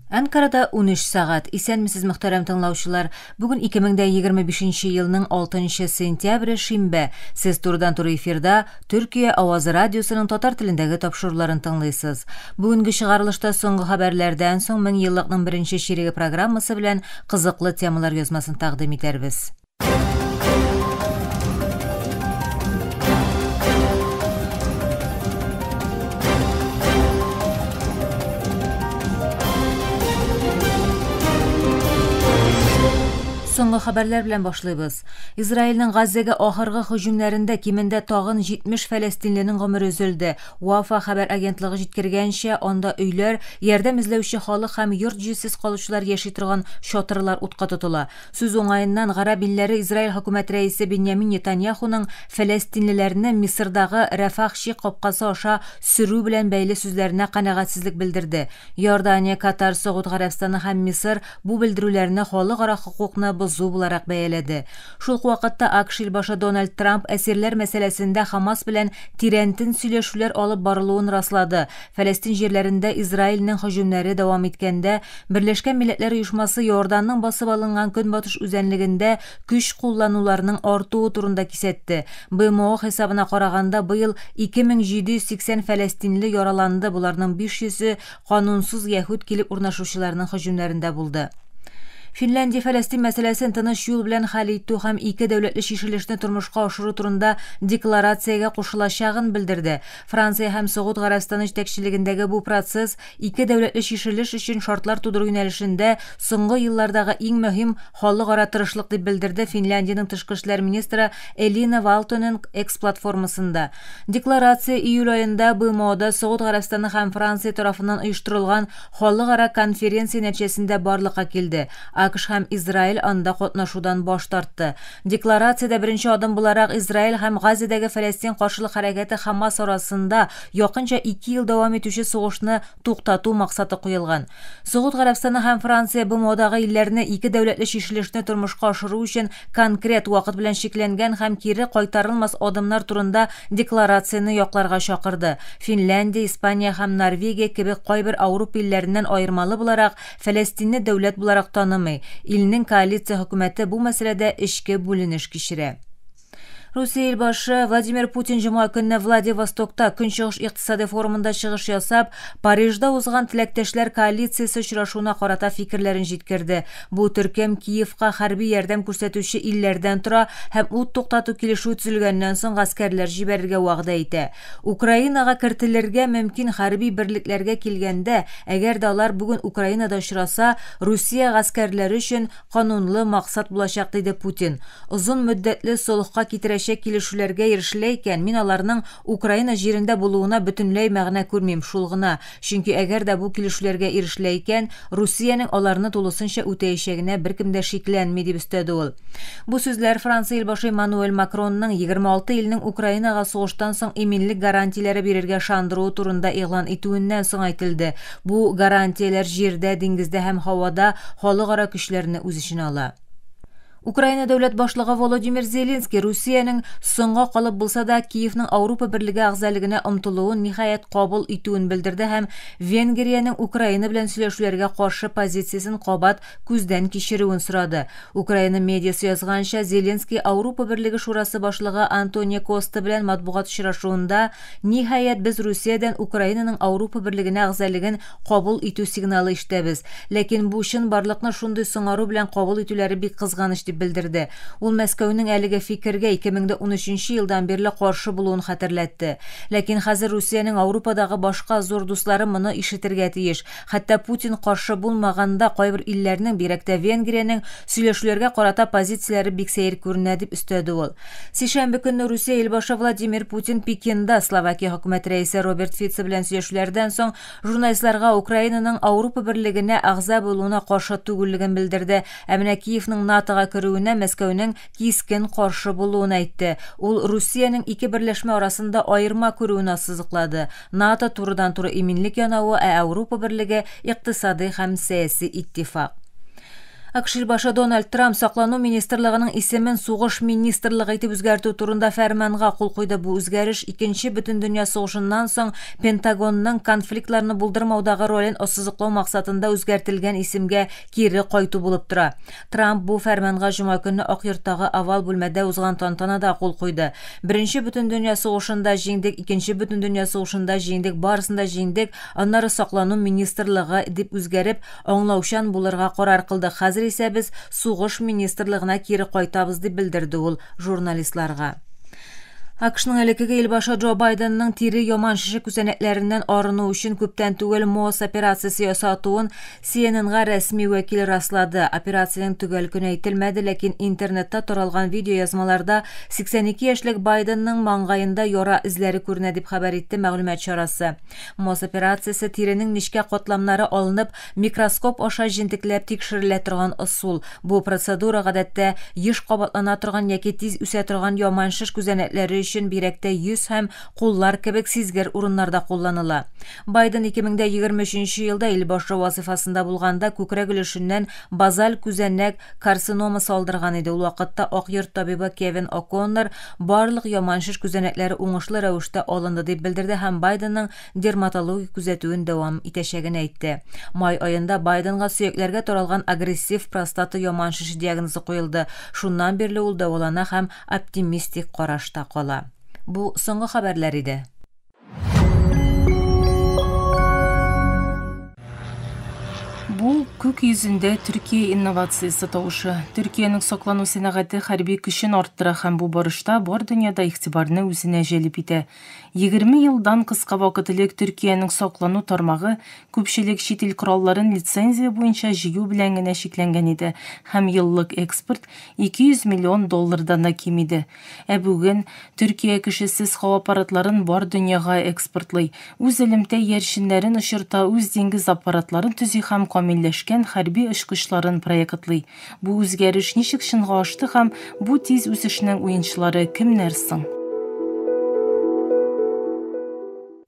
Әнкарада 13 сәгать. Исәнмесез, мөхтәрәм тыңлаучылар. Бүген 2025 елның 6 сентябре, шимбә. Сез турыдан-туры эфирда Төркия авазы радиосының татар телендәге тапшыруларын тыңлыйсыз. Бүгенге чыгарылышта соңгы хәбәрләрдән соң мең еллыкның беренче чиреге программасы белән кызыклы темалар язмасын тәкъдим итәрбез. Соңгы хәбәрләр белән башлыйбыз. Израильнең Газзәгә ахыргы һөҗүмнәрендә кимендә тагын 70 фәләстинленең гомере өзелде. Уафа хәбәр агентлыгы җиткергәнчә, анда өйләр, ярдәм эзләүче халык һәм йорт-җирсез калучылар яши торган чатырлар утка тотыла. Сүз уңаеннан, гарәп илләре Израиль хөкүмәт рәисе Беньямин Нетаньяхуның фәләстинлеләрне Мисырдагы Рәфах чик капкасы аша сөрү белән бәйле сүзләренә канәгатьсезлек белдерде. Иордания, Катар, Согуд Гарәбстаны һәм Мисыр бу белдерүләрне халыкара хокукны бозу буларак бәяләде. Шул ук вакытта АКШ илбашы Дональд Трамп әсирләр мәсьәләсендә Хамас белән тирәнтен сөйләшүләр алып барылуын раслады Фәләстин җирләрендә Израильнең һөҗүмнәре дәвам иткәндә, Берләшкән Милләтләр Оешмасы Иорданның басып алынган Көнбатыш үзәнлегендә көч куллануларның артуы турында кисәтте. БМО хисабына караганда, быел 2780 фәләстинле яраланды, боларның 500-е канунсыз яһүд килеп урнашучыларның һөҗүмнәрендә булды. Финляндия Фәләстин мәсьәләсен тыныч юл белән хәл итү һәм ике дәүләтле чишелешне тормышка ашыру турында декларациягә кушылачагын белдерде. Франция һәм Согуд Гарәбстаны җитәкчелегендәге бу процесс ике дәүләтле чишелеш өчен шартлар тудыру юнәлешендә соңгы еллардагы иң мөһим халыкара тырышлык, дип белдерде Финляндиянең тышкы эшләр министры Элина Валтонен X-платформасында. Декларация июль аенда БМОда Согуд Гарәбстаны һәм Франция тарафыннан оештырылган халыкара конференция нәтиҗәсендә барлыкка килде, АКШ һәм Израиль анда катнашудан баш тартты. Декларациядә беренче адым буларак Израиль һәм Газиядәге Фәләстин каршылык хәрәкәте Хамас арасында якынча ике ел дәвам итүче сугышны туктату максаты куелган. Согуд Гарәбстаны һәм Франция БМОдагы илләрне ике дәүләтле чишелешне тормышка ашыру өчен конкрет вакыт белән чикләнгән һәм кире кайтарылмас адымнар турында декларацияне якларга чакырды. Финляндия, Испания һәм Норвегия кебек кайбер Ауропа илләреннән аермалы буларак, Фәләстинне дәүләт буларак танымый, илнең коалиция хөкүмәте бу мәсьәләдә эчке бүленеш кичерә. Русия илбашы Владимир Путин җомга көнне Владивостокта Көнчыгыш икътисадый форумында чыгыш ясап, Парижда узган теләктәшләр коалициясе очрашуына карата фикерләрен җиткерде. Бу төркем Киевка хәрби ярдәм күрсәтүче илләрдән тора һәм ут туктату килешүе төзелгәннән соң гаскәрләр җибәрергә вәгъдә итә. Украинага кертелергә мөмкин хәрби берлекләргә килгәндә, әгәр дә алар бүген Украинада очраса, Русия гаскәрләре өчен канунлы максат булачак, диде Путин. Озын мөддәтле солыхка китерәчәк килешүләргә ирешелә икән, мин аларның Украина җирендә булуына бөтенләй мәгънә күрмим, шул гына, Чөнки әгәр дә бу килешүләргә ирешелә икән, Русиянең аларны тулысынча үтәячәгенә беркем дә шикләнми, дип өстәде ул. Бу сүзләр Франция Илбашы Эммануэль Макронның 26 илнең Украинага сугыштан соң иминлек гарантияләре бирергә ышандыруы турында игълан итүеннән соң әйтелде. Бу гарантияләр җирдә, диңгездә һәм һавада халыкара көчләрне үз эченә ала. Украина дәүләт башлыгы Володимир Зеленский Русиянең соңга калып булса да Киевның Ауропа берлеге әгъзалегенә омтылуын ниһаять кабул итүен белдерде һәм Венгриянең Украина белән сөйләшүләргә каршы позициясен кабат күздән кичерүен сорады. Украина медиасы язганча, Зеленский Ауропа берлеге шурасы башлыгы Антонио Коста белән матбугат очрашуында, Ниһаять, без Русиядән Украинаның Ауропа берлегенә әгъзалеген Кабул итү сигналы ишетәбез. Ләкин бу чынбарлыкны шундый соңару белән кабул итүләре бик кызганыч, дип белдерде. Ул Мәскәүнең әлеге фикергә 2013 елдан бирле каршы булуын хәтерләтте. Ләкин хәзер Русиянең Аурупадагы башка зур дуслары моны ишетергә тиеш. Хәтта Путин каршы булмаган да кайбер илләрнең, бигрәк тә Венгриянең, сөйләшүләргә карата позицияләре бик сәер күренә, дип өстәде ул. Сишәмбе көнне Русия илбашы Владимир Путин Пекинда Словакия хөкүмәт рәисе Роберт Фица белән сөйләшүләрдән соң журналистларга Украинаның Ауропа берлегенә әгъза булуына каршы түгеллеген белдерде, ә менә Киевның НАТОга керүенә Мәскәүнең кискен каршы булуын әйтте. Ул Русиянең ике берләшмә арасында аерма күрүен ассызыклады, НАТО, турыдан-туры иминлек янавы, ә Ауропа берлеге, икътисадый һәм сәяси иттифак. АКШИ башы Дональд Трамп Саклану министрлыгының исемен Сугыш министрлыгы итеп үзгәртү турында фәрманга кул куйды. Бу үзгәреш Икенче бөтендөнья сугышыннан соң Пентагонның конфликтларны булдырмаудагы ролен ассызыклау максатында үзгәртелгән исемгә кире кайту булып тора. Трамп бу фәрманга җома көнне Ак йорттагы овал бүлмәдә узган тантанада кул куйды. Беренче бөтендөнья сугышында җиңдек, Икенче бөтендөнья сугышында җиңдек, барысын да җиңдек, аннары Саклану министрлыгы дип үзгәреп, Аңлаучан булырга карар кылдык, хәзер исә без сугыш министрлыгына кире кайтабыз, дип белдерде ул журналистларга. АКШның элеккеге илбашы Джо Байденның тире яман шеше күзәнәкләреннән арыну өчен күптән түгел МОС операциясе ясатуын CNN-га рәсми вәкил раслады. Операциянең төгәл көне әйтелмәде, ләкин интернетта таралган видеоязмаларда 82 яшьлек Байденның маңгаенда яра эзләре күренә, дип хәбәр итте мәгълүмат чарасы. Мос операциясе тиренең нечкә катламнары алынып, микроскоп аша җентекләп тикшерелә торган ысул. Бу процедура, гадәттә, еш кабатлана торган яки тиз үсә торган яман шеш күзәнәкләре өчен бигрәк тә йөз һәм куллар кебек сизгер урыннарда кулланыла. Байден 2023 елда ил башы вазыйфасында булганда күкрәк өлешеннән базаль күзәнәк карциномасы алдырган иде, ул вакытта Ак йорт табибы Кевин О'Коннор Барлык яман шеш күзәнәкләре уңышлы рәвештә алынды, дип белдерде һәм Байденның дерматологик күзәтүен дәвам итәчәген әйтте. Май аенда Байденга сөякләргә таралган агрессив простата яман шеше диагнозы куелды, шуннан бирле ул дәвалана һәм оптимистик карашта кала. Бу соңгы хәбәрләр иде. Бу күк йөзендә Төркия инновациясе тавышы. Төркиянең соклану сәнәгате хәрби көчен арттыра һәм бу барышта бар дөньяда игътибарны үзенә җәлеп итә. 20 елдан кыска вакыт элек Төркиянең соклану тармагы күпчелек чит ил коралларын лицензия буенча җыю белән генә чикләнгән иде һәм еллык экспорт 200 миллион доллардан да ким иде. Ә бүген Төркия кешесез һава аппаратларын бар дөньяга экспортлый, үз элемтә иярченнәрен очырта, үз диңгез аппаратларын төзи һәм камилләшкән хәрби очкычларын проектлый. Бу үзгәреш ничек чынга ашты һәм бу тиз үсешнең уенчылары кемнәр соң?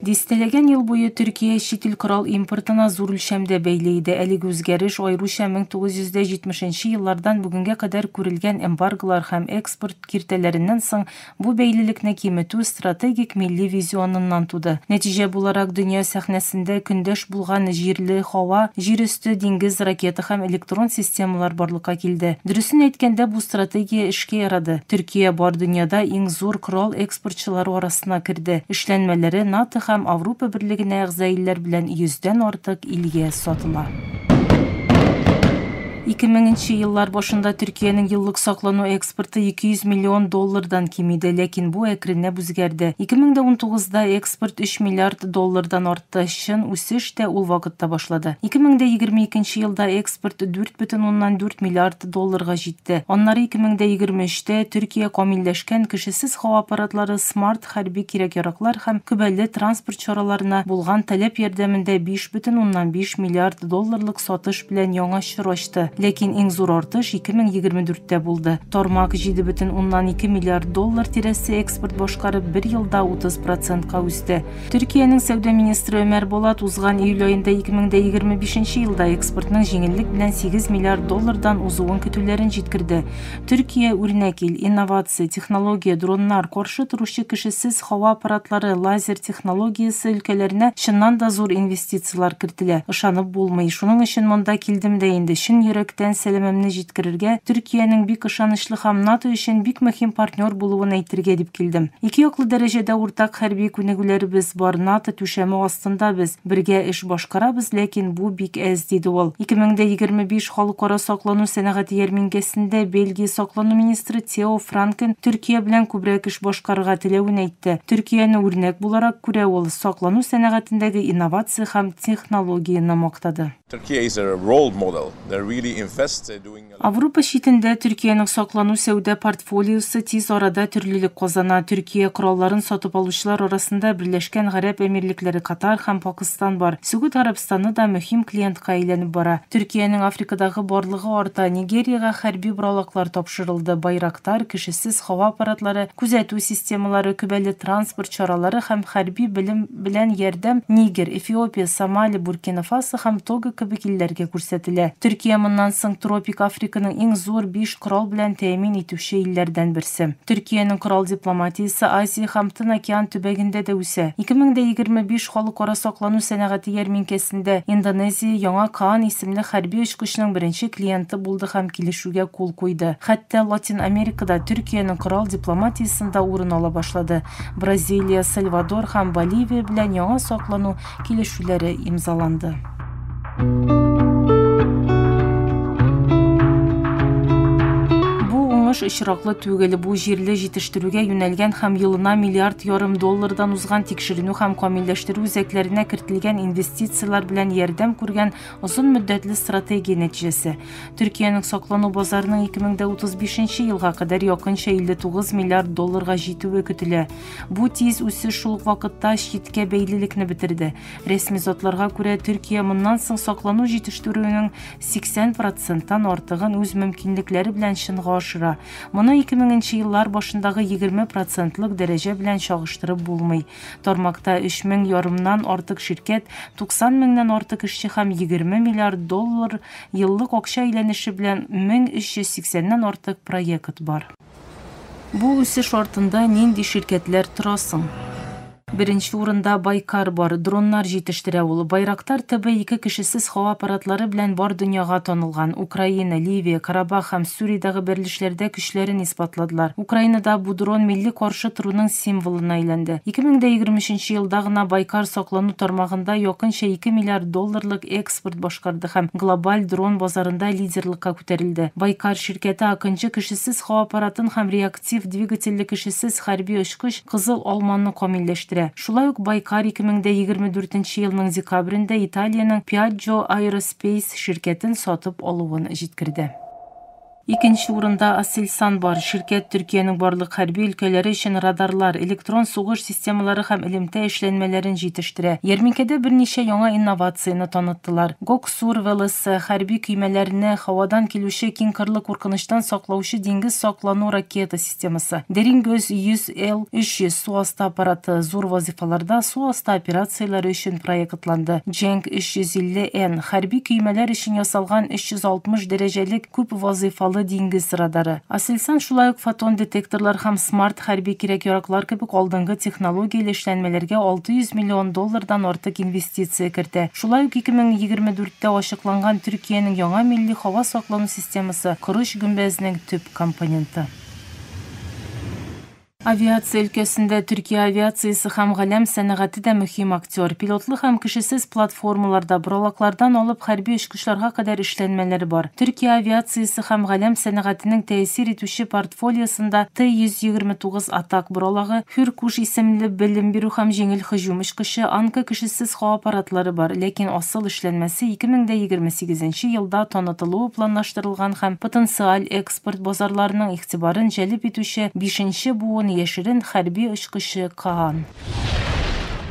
Дистәләгән ел буе Төркия чит ил корал импортына зур үлчәмдә бәйле иде. Әлеге үзгәреш, аеруча 1970 нче еллардан бүгенгә кадәр күрелгән эмбарголар һәм экспорт киртәләреннән соң, бу бәйлелекне киметү стратегик милли визионыннан туды. Нәтиҗә буларак, дөнья сәхнәсендә көндәш булган җирле, һава, җир өсте, диңгез, ракета һәм электрон системалар барлыкка килде. Дөресен әйткәндә, бу стратегия эшкә ярады. Төркия бар дөньяда иң зур корал спортчылары арасына керде. Эшләнмәләре НАТО һәм Авропа берлегенә әгъза илләр белән йөздән артык илгә сатыла. Ике меңенче еллар башында Төркиянең еллык саклану экспорты 200 миллион доллардан ким иде, ләкин бу әкренләп үзгәрде. Ике мең дә унтугызда экспорт өч миллиард доллардан артты. Та, чын үсеш тә ул вакытта башлады. 2022 елда экспорт 4,4 миллиард долларга җитте. Аннары 2023 тә Төркия камилләшкән кешесез һава аппаратлары, смарт хәрби кирәк-яраклар һәм көбәле транспорт чараларына булган таләп ярдәмендә 5,5 миллиард долларлык сатыш белән яңа чор ачты. Ләкин иң зур артыш 2024 тә булды. Тармак 7,2 миллиард доллар тирәсе экспорт башкарып, бер елда 30 процентка үсте. Төркиянең сәүдә министры Өмәр Болат узган июль аенда 2025 елда экспортның җиңеллек белән 8 миллиард доллардан узуын көтүләрен җиткерде. Төркия, үрнәк ил, инновация, технология, дроннар, каршы торучы кешесез һава аппаратлары, лазер технологиясе өлкәләренә чыннан да зур инвестицияләр коррекцияләр кертелә. Ышанып булмый. Шуның өчен монда килдем дә инде, чын йөрәктән сәламемне җиткерергә, Төркиянең бик ышанычлы һәм НАТО өчен бик мөһим партнер булуын әйтергә дип килдем. Икеяклы дәрәҗәдә уртак хәрби күнегүләребез бар, НАТО түшәме астында без, бергә эш башкарабыз, ләкин бу бик әз, диде ул. Ике мең дә егерме биш Халыкара саклану сәнәгате ярминкәсендә Бельгия саклану министры Тео Франкен Төркия белән күбрәк эш башкарырга теләвен әйтте. Төркияне үрнәк буларак күрә ул. саклану сәнәгатендәге инновация һәм технологияне мактады. Аврупа читендә Төркиянең саклану сәүдә портфолиосы тиз арада төрлелек казана. Төркия коралларын сатып алучылар арасында Берләшкән Гарәп Әмирлекләре, Катар һәм Пакыстан бар. Сөгүд Гарәбстаны да мөһим клиентка әйләнеп бара. Төркиянең Африкадагы барлыгы арта. Нигериягә хәрби боралаклар тапшырылды, Байрактар, кеше. хәвефсез һава аппаратлары, күзәтү системалары, көбәле транспорт чаралары һәм хәрби белем белән ярдәм Нигер, Эфиопия, Сомали, Буркина-Фасо һәм Того кебек илләргә күрсәтелә. Төркия моннан соң тропик Африканың иң зур биш корал белән тәэмин итүче илләрдән берсе. Төркиянең корал дипломатиясе Азия һәм Тын океан төбәгендә дә үсә. Ике мең дә егерме биш Халыкара саклану сәнәгате ярминкәсендә Индонезия Яңа Каан исемле хәрби очкычның беренче клиенты булды һәм килешү Гә кул куйды. Хәтта Латин Америкада Төркиянең корал дипломатиясендә урын ала башлады. Бразилия, Сальвадор һәм Боливия белән яңа саклану килешүләре имзаланды. уңыш очраклы түгел. Бу җирле җитештерүгә юнәлгән һәм елына миллиард ярым доллардан узган тикшеренү һәм камилләштерү үзәкләренә кертелгән инвестицияләр белән ярдәм күргән Озын мөддәтле стратегия нәтиҗәсе. Төркиянең саклану базарының 2035 елга кадәр якынча 59 миллиард долларга җитүе көтелә. Бу тиз үсеш шул ук вакытта читкә бәйлелекне бетерде. Рәсми затларга күрә, Төркия моннан соң саклану җитештерүенең 80 проценттан артыгын үз мөмкинлекләре белән чынга ашыра. Моны 2000 нче еллар башындагы 20 процентлык дәрәҗә белән чагыштырып булмый. Тармакта өч мең ярымнан артык ширкәт, 90 меңнән артык эшче һәм 20 миллиард доллар еллык акча әйләнеше белән 1380 нән артык проект бар. Бу үсеш артында нинди ширкәтләр тора соң? Беренче урында Байкар бар, дроннар җитештерә ул. Байрактар ТБ-2 кешесез һава аппаратлары белән бар дөньяга танылган. Украина, Ливия, Карабах һәм Сүриядәге бәрелешләрдә көчле көчләрен исбатладылар. Украинада бу дрон милли каршы торуның символына әйләнде. 2023 елда гына Байкар саклану тармагында якынча ике миллиард долларлык экспорт башкарды һәм глобаль дрон базарында лидерлыкка күтәрелде. Байкар ширкәте Акынчы кешесез һава аппаратын һәм реактив двигательле кешесез хәрби очкыч Кызыл алманы камилләштерә. Шулай ук Байкар 2024 елның декабрендә Италиянең Piaggio Aerospace ширкәтен сатып алуын җиткерде. Икенче урында Aselsan бар. Ширкәт Төркиянең барлык хәрби өлкәләре өчен радарлар, электрон сугыш системалары һәм элемтә эшләнмәләрен җитештерә. Ярминкәдә берничә яңа инновацияне таныттылар. Гоксур ВЛСы, хәрби көймәләрне һавадан килүче киңкырлы куркынычтан саклаучы диңгез саклану ракета системасы. Deringues 100, Л-300 су асты аппараты зур вазыйфаларда су асты операцияләре өчен проектланды. Дженк 350-Н, хәрби көймәләр өчен ясалган 360 дәрәҗәлек күп вазыйфалы диңгез радары. Aselsan шулай ук фотон детекторлар һәм смарт хәрби кирәк-яраклар кебек алдынгы технологияле эшләнмәләргә 600 миллион доллардан артык инвестиция кертә. Шулай ук 2024тә ачыкланган Төркиянең яңа милли һава саклану системасы корыч-гөмбәзнең төп компоненты. Авиация өлкәсендә Төркия авиациясе һәм галәм сәнәгате дә мөһим актер. Пилотлы һәм кешесез платформаларда, боралаклардан алып хәрби очкычларга кадәр эшләнмәләр бар. Төркия авиациясе һәм галәм сәнәгатенең тәэсир итүче портфолиосында Т-129 атак боралагы, Хюркуш исемле белем бирү һәм җиңел һөҗүм очкычы, Анка кешесез һава аппаратлары бар, ләкин асыл эшләнмәсе 2028 елда танытылуы планлаштырылган һәм потенциаль Экспорт базарларының игътибарын җәлеп итүче бишенче буын яшерен хәрби очкычы Каан.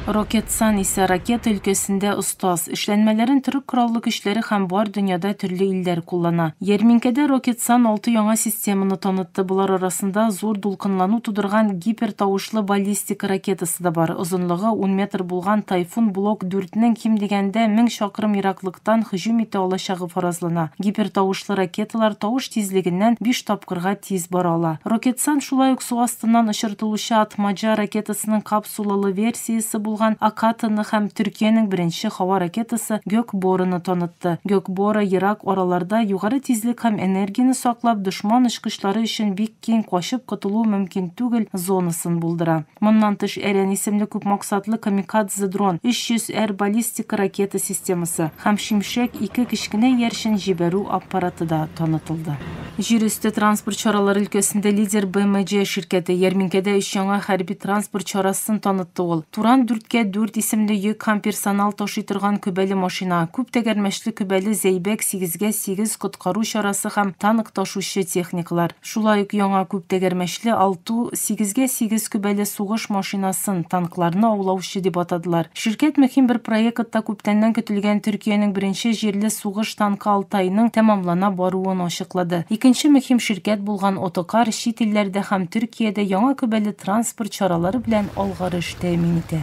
Рокетсан исә ракета өлкәсендә остаз. Эшләнмәләрен Төрек Кораллы көчләре һәм бар дөньяда төрле илләр куллана. Ярминкәдә Рокетсан алты яңа системаны танытты, болар арасында зур дулкынлану тудырган гипертавышлы баллистика ракетасы да бар, озынлыгы ун метр булган Тайфун блок дүртнең ким дигәндә мең чакрым ераклыкта яктан һөҗүм итә алачагы фаразлана. Гипертавышлы ракеталар тавыш тизлегеннән биш тапкырга тиз бара ала. Рокетсан шулай ук су астыннан очыртылучы Атмаджа ракетасының капсулалы версиясе булган Акатаны һәм Төркиянең беренче һава ракетасы Гёкборыны танытты. Гёкбора ерак араларда югары тизлек һәм энергияне саклап, дошман очкычлары өчен бик киң качып котылу мөмкин түгел зонасын булдыра. Моннан тыш Әрән исемле күпмаксатлы камикадзе дрон, 300 Р баллистик ракета системасы һәм Шимшәк ике кечкенә иярчен җибәрү аппараты да танытылды. Җир өсте транспорт чаралары өлкәсендә лидер БМױ ширкәте, ярминкәдә өч яңа хәрби транспорт чарасын танытты ул. Туран дүрткә дүрт исемле йөк һәм персонал ташый торган көбәле машина, күп тәгәрмәчле көбәле Зәйбәк сигезгә сигез коткару чарасы һәм танк ташучы техникалар, шулай ук яңа күп тәгәрмәчле Алту, сигезгә сигез көбәле сугыш машинасын, танкларны аулаучы дип атадылар. Ширкәт мөһим бер проектта күптәннән көтелгән Төркиянең беренче җирле сугыш танкы Алтайның тәмамлана баруын ачыклады. тоныклады. Икенче мөһим ширкәт булган Отокар чит илләрдә һәм Төркиядә яңа күбәле транспорт чаралары белән алгарыш тәэмин итә.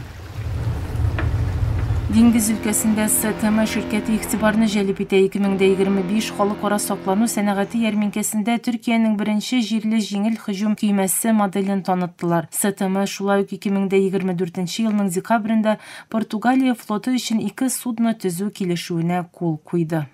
Диңгез өлкәсендә СТМ ширкәте игътибарны җәлеп итә. 2025 халыкара саклану сәнәгате ярминкәсендә Төркиянең беренче җирле җиңел һөҗүм көймәсе моделен таныттылар. СТМ шулай ук 2024 елның декабрендә Португалия флоты өчен ике судно төзү килешүенә кул куйды.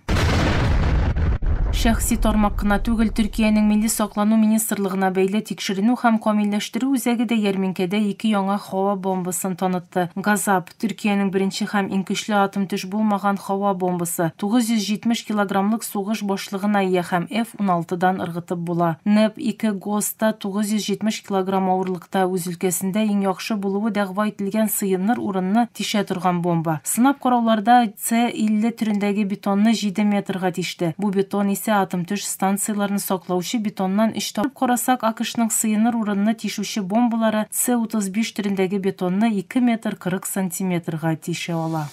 Шәхси тармак кына түгел, Төркиянең Милли саклану министрлыгына бәйле Тикшеренү һәм камилләштерү үзәге дә ярминкәдә ике яңа һава бомбасын танытты. Газап, Төркиянең беренче һәм иң көчле атом төш булмаган һава бомбасы, 970 килограммлык сугыш башлыгына ия һәм F-16 дан ыргытып була. Neb-2 Ghost та 970 Килограмм авырлыкта үз өлкәсендә иң яхшы булуы дәгъва ителгән сыенныр урынны тишә торган бомба. Сынап карауларда С-50 төрендәге бетонны җиде метрга тиште. Бу бетон исә атом-төш станцияләрен саклаучы бетоннан өч тапкыр күп. Карасак, АКШның сыенныр урынны тишүче бомбалары С-35 төрендәге бетонны ике метр кырык сантиметрга тишә ала.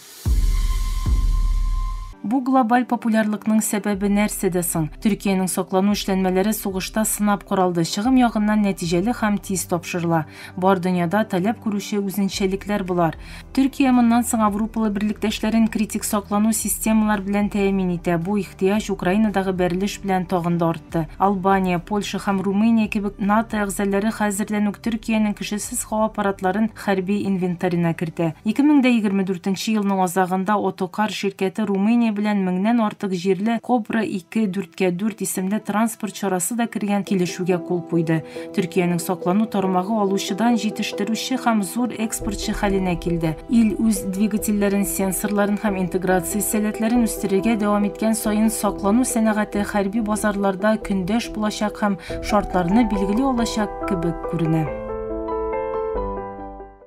Бу глобаль популярлыкның сәбәбе нәрсәдә соң? Төркиянең саклану эшләнмәләре сугышта сынап каралды, чыгым ягыннан нәтиҗәле һәм тиз тапшырыла. Бар дөньяда таләп күрүче үзенчәлекләр болар. Төркия моннан соң аврупалы берлектәшләрен критик саклану системалар белән тәэмин итә, бу ихтыяҗ Украинадагы бәрелеш белән тагын да артты. ятты. Албания, Польша һәм Румыния кебек НАТО әгъзалары хәзердән үк Төркиянең кешесез һава аппаратларын хәрби инвентарена кертә. 2024 елның азагында Отокар ширкәте Румыния белән меңнән артык җирле Кобра-ике, дүрткә-дүрт исемле транспорт чарасы да кергән килешүгә кул куйды. Төркиянең саклану тармагы алучыдан җитештерүче һәм зур экспортчы хәленә килде. Ил үз двигательләрен, сенсорларын һәм интеграция сәләтләрен үстерергә дәвам иткән саен саклану сәнәгате хәрби базарларда көндәш булачак һәм шартларны билгели алачак кебек күренә.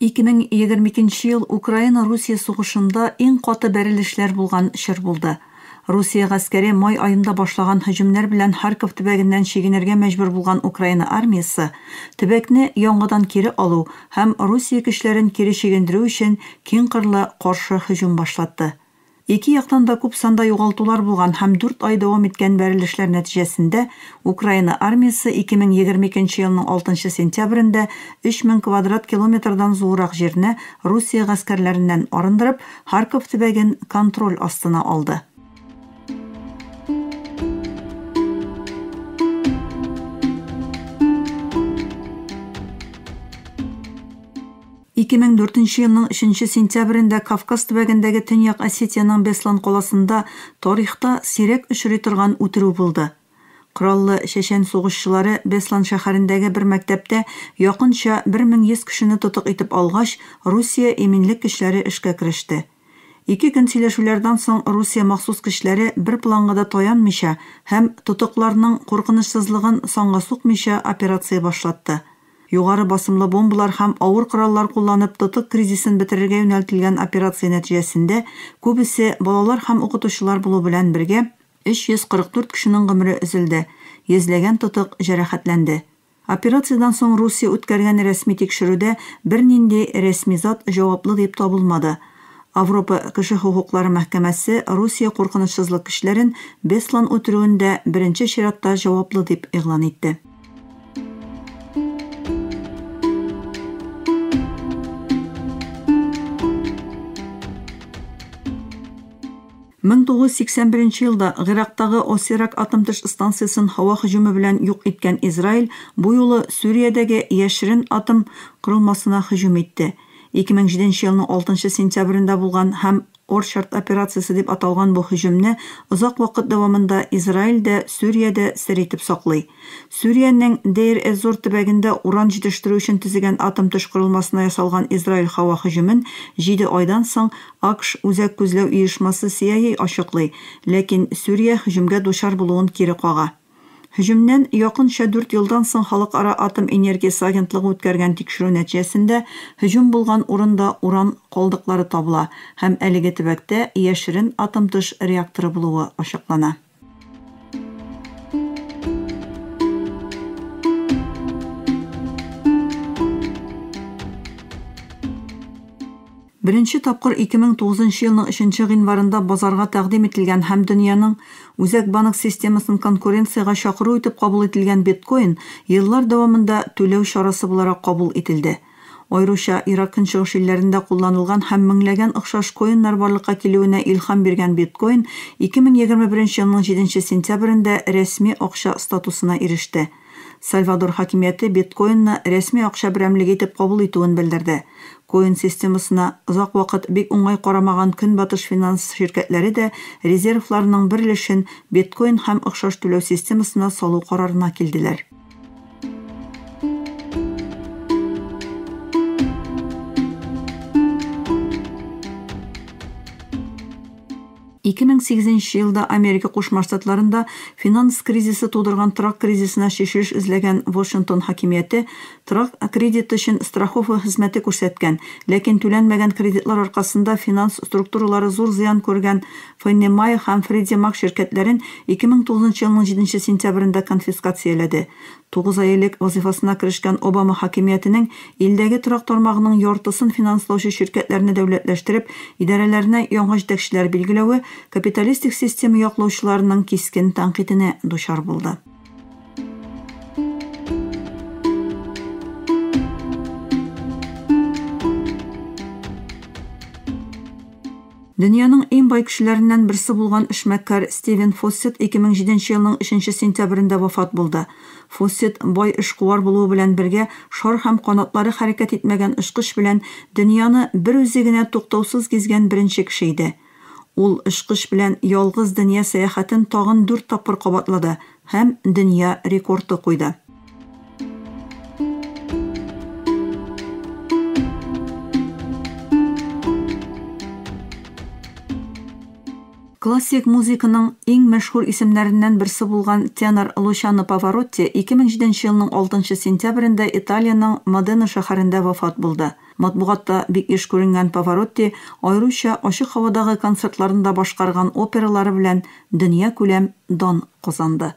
2022 нче ел Украина-Русия сугышында иң каты бәрелешләр булган чор булды. Русия гаскәре май аенда башлаган һөҗүмнәр белән Харьков төбәгеннән чигенергә мәҗбүр булган Украина армиясе, төбәкне яңадан кире алу һәм Русия көчләрен кире чигендерү өчен киңкырлы каршы һөҗүм башлатты. Ике яктан да күп санда югалтулар булган һәм дүрт ай дәвам иткән бәрелешләр нәтиҗәсендә Украина армиясе 2022 нче елның 6 нчы сентябрендә 3000 квадрат километрдан зуррак җирне Русия гаскәрләреннән арындырып, Харьков төбәген контроль астына алды. 2004 елның 3 сентябрендә Кавказ төбәгендәге Төньяк Осетиянең Беслан каласында тарихта сирәк очрый торган үтерү булды. Кораллы чәчән сугышчылары Беслан шәһәрендәге бер мәктәптә якынча 1100 кешене тотык итеп алгач, Русия иминлек көчләре эшкә кереште. Ике көн сөйләшүләрдән соң Русия махсус көчләре бер планга да таянмыйча һәм тотыкларның куркынычсызлыгын санга сукмыйча операция башлатты. Югары басымлы бомбалар һәм авыр кораллар кулланып тотык кризисын бетерергә юнәлтелгән операция нәтиҗәсендә күбесе балалар һәм укытучылар булу белән бергә 344 кешенең гомере өзелде, йөзләгән тотык җәрәхәтләнде. Операциядән соң Русия үткәргән рәсми тикшерүдә бернинди рәсми зат җаваплы дип табылмады. Авропа кеше хокуклары мәхкәмәсе Русия куркынычсызлык көчләрен Беслан үтерүендә беренче чиратта җаваплы дип игълан итте. 1981 елда Гыйрактагы Осирак атом төш станциясен һава һөҗүме белән юк иткән Израиль бу юлы Сүриядәге яшерен атом корылмасына һөҗүм итте. 2007 елның 6 сентябрендә булган һәм Орчард операциясе дип аталган бу һөҗүмне озак вакыт дәвамында Израиль дә, Сүрия дә сер итеп саклый. Сүриянең Дейр-эз-Зур төбәгендә уран җитештерү өчен төзегән атом төш корылмасына ясалган Израиль һава һөҗүмен җиде айдан соң АКШ Үзәк күзләү оешмасы CIA ачыклый, ләкин Сүрия һөҗүмгә дучар булуын кире кага. Һөҗүмнән якынча дүрт елдан соң Халыкара атом энергиясе агентлыгы үткәргән тикшерү нәтиҗәсендә һөҗүм булган урында уран калдыклары табыла һәм әлеге төбәктә яшерен атомтыш реакторы булуы ачыклана. Беренче тапкыр 2009 елның 3 гыйнварында базарга тәкъдим ителгән һәм дөньяның үзәк банк системасын конкуренциягә чакыру итеп кабул ителгән биткоин еллар дәвамында түләү чарасы буларак кабул ителде. Аеруча, Ирак-Көнчыгыш илләрендә кулланылган һәм меңләгән охшаш коиннар барлыкка килүенә илһам биргән биткоин 2021 елның җиденче сентябрендә рәсми акча статусына иреште. Сальвадор хакимияте биткоинны рәсми акча берәмлеге итеп кабул итүен белдерде. Коин системасына озак вакыт бик уңай карамаган көнбатыш финанс ширкәтләре дә резервларының бер өлешен биткоин һәм охшаш түләү системасына салу карарына килделәр. Ике мең сигезенче елда Америка Кушма Штатларында финанс кризисы тудырган торак кризисына чишелеш эзләгән Вашингтон хакимияте торак кредиты өчен страховка хезмәте күрсәткән, ләкин түләнмәгән кредитлар аркасында финанс структуралары зур зыян күргән Феннемайер һәм Фредди Мак ширкәтләрен 2009 нчы елның җиденче сентябрендә конфискацияләде. Тугыз ай элек вазыйфасына керешкән Обама хакимиятенең илдәге торак тармагының яртысын финанслаучы ширкәтләрне дәүләтләштереп, идарәләренә яңа җитәкчеләр билгеләве капиталистик система яклаучыларының кискен тәнкыйтенә дучар булды. Дөньяның иң бай кешеләреннән берсе булган эшмәкәр Стивен Фоссет 2007 нче елның 3 нче сентябрендә вафат булды. Фоссет, бай эшкуар булуы белән бергә, шар һәм канатлары хәрәкәт итмәгән очкыч белән дөньяны бер үзе генә туктаусыз гизгән беренче кеше иде. Ул очкыч белән ялгыз дөнья сәяхәтен тагын дүрт тапкыр кабатлады, һәм дөнья рекорды куйды. Классик музыканың иң мәшһүр исемнәреннән берсе булган тенор Лучано Паваротти 2007 елның 6 сентябрендә Италиянең Модена шәһәрендә вафат булды. Матбугатта бик еш күренгән Паваротти аеруча ачык һавадагы концертларында башкарган опералары белән дөньякүләм дан казанды.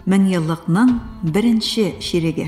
Меңьеллыкның беренче чиреге.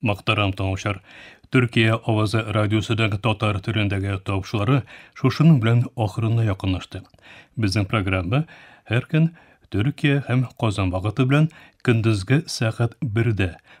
Мактарам таңучар. Төркия авазы радиосыдагы татар төрендәге тавышлары шушының белән ахырына якынлашты. Безнең программа һәр көн Төркия һәм Казан вакыты белән көндезге сәгать 1-дә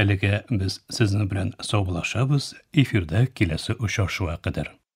Әлегә без сезнең белән саубулашабыз, эфирда киләсе очрашуга кадәр.